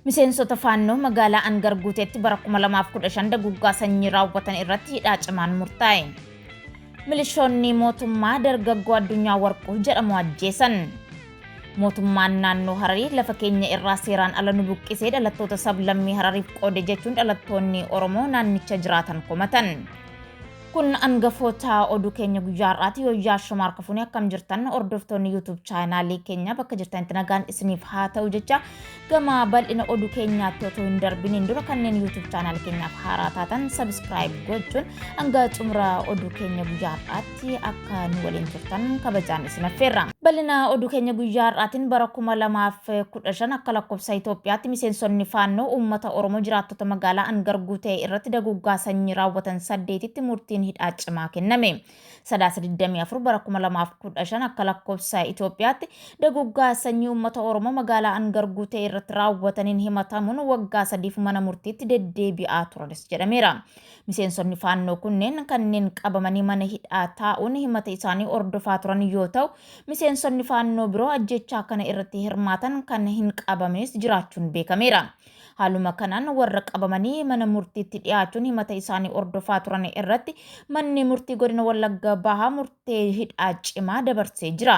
Miseensota Faannoo magaalaa Angar Guuteetti bara 2015 daguggaa sanyii raawwatan irratti hidhaa cimaan murtaa'e. Milishoonni mootummaa dargaggoo addunyaa warquu jedhamu ajjeesan. Mootummaan naannoo Hararii lafa keenya irraa seeraan ala nu buqqisee dhalattoota sablammii Harariif qoode jechuun dhalattoonni Oromoo naannicha jiraatan komatan. Kun angafoota oduu keenya guyyaa har'aati yoo yaa shoma harka fuunee akkam jirtan hordoftoonni YouTube chaanaalii keenya bakka jirtanitti nagaan isiniif haa ta'u jecha gama bal'ina oduu keenyaatti otoo hin darbiniin dura kanneen YouTube chaanaalii keenyaaf haaraa taatan subscribe gochuun hanga xumura oduu keenya guyyaa har'aatti akka nu waliin turtan tan kabajaan isin affeerra. Bal'ina oduu keenya guyyaa har'aatiin bara 2015 akka lakkoofsa Itoophiyaatti miseensonni faannoo uummata Oromoo jiraattota magaalaa Angar Guutee irratti daguuggaa sanyii raawwatan saddeetitti murtiin hidhaa cimaa kenname. Sadaasa 24 bara 2015 akka lakkoofsa Itoophiyaatti daguuggaa sanyii uummata Oromoo magaalaa Angar Guutee irratti raawwataniin himatamuun waggaa sadiif mana murtiitti deddeebi'aa turanis jedhameera. Miseensonni Faannoo kunneen kanneen qabamanii mana hidhaa taa'uun himata isaanii hordofaa turan yoo ta'u, miseensonni Faannoo biroo ajjeechaa kana irratti hirmaatan kan hin qabamnes jiraachuun beekameera. Haaluma kanaan warra qabamanii mana murtiitti dhiyaachuun himata isaanii hordofaa turan irratti manni murtii godina Wallagga Bahaa murtee hidhaa cimaa dabarsee jira.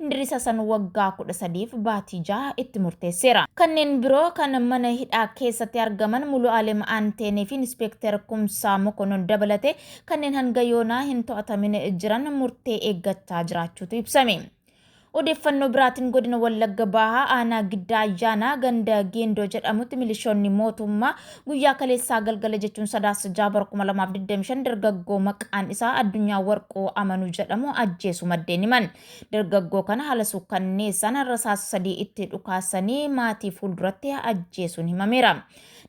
Indiris Hasan waggaa 13f baatii 6 itti murteesseera. Kanneen biroo kan mana hidhaa keessatti argaman Mulu'aalem Anteenee fi Inispeekter Kumsaa Mokonnon dabalatee kanneen hanga yoonaa hin to'atamin jiran murtee eeggachaa jiraachuutu ibsame. Odeeffannoo biraatiin godina Wallagga Bahaa aanaa Giddaa Ayyaanaa ganda Geendoo jedhamutti milishoonni mootummaa Guyyaa kaleessaa galgala jechuun Sadaasa 6 bara 2025 dargaggoo maqaan isaa Addunyaa Warquu Amanuu jedhamu ajjeesu maddeen himan. Dargaggoo kana haala suukkanneessaan rasaasa sadii itti dhukaasanii maatii fuulduratti ajjeesuun himameera.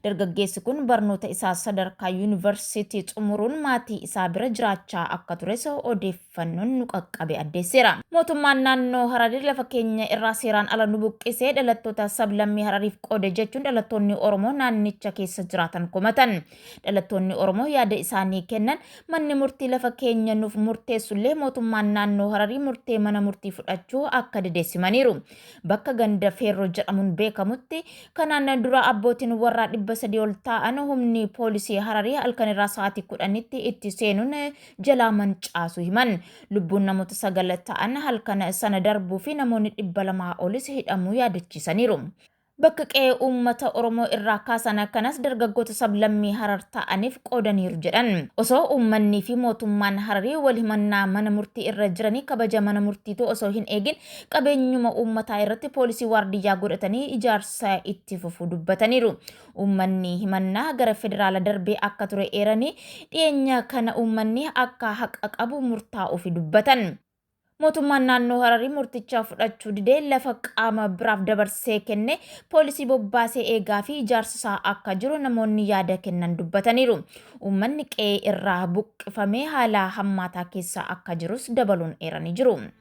Dargaggeessi kun barnoota isaa sadarkaa yuunivarsiitii xumuruun maatii isaa bira jiraachaa akka tures odeef fannoon nu qaqqabe addeesseera. Mootummaan naannoo Hararii lafa keenya irraa seeraan ala nu buqqisee dhalattoota sablammii Harariif qoode jechuun dhalattoonni Oromoo naannicha keessa jiraatan komatan. Dhalattoonni Oromoo yaada isaanii kennan manni murtii lafa keenya nuuf murteessullee mootummaan naannoo Hararii murtee mana murtii fudhachuu akka dide simaniiru. Bakka ganda Feerroo jedhamuun beekamutti kanaan dura abbootiin warraa 300 ol taa'an humni poolisii Hararii halkanirraa sa'aatii 10tti itti seenuun jalaa mancaasuu himan. Lubbuun namoota sagal ta'an halkan sana darbuu fi namoonni dhibba lamaa olis hidhamuu yaadachiisaniiru. Bakka qe'ee uummata Oromoo irraa kaasan kanas dargaggoota sablammii Harar ta'aniif qoodaniiru jedhan. Osoo uummannii fi mootummaan Hararii wal himannaa mana murtii irra jiranii kabaja mana murtiituu osoo hin eegin qabeenyuma uummataa irratti poolisii waardiyyaa godhatanii ijaarsa itti fufuu dubbataniiru. Uummanni himannaa gara federaala darbee akka ture eeranii, dhiyeenya kana uummanni akka haqa qabu murtaa'uufi dubbatan. Mootummaan naannoo Hararii murticha fudhachuu didee lafa qaama biraaf dabarsee kenne, poolisii bobbaasee eegaafi ijaarsisaa akka jiru namoonni yaada kennan dubbataniiru. Uummanni qe'ee irraa buqqifamee haala hammaataa keessa akka jirus dabaluun eeranii jiru.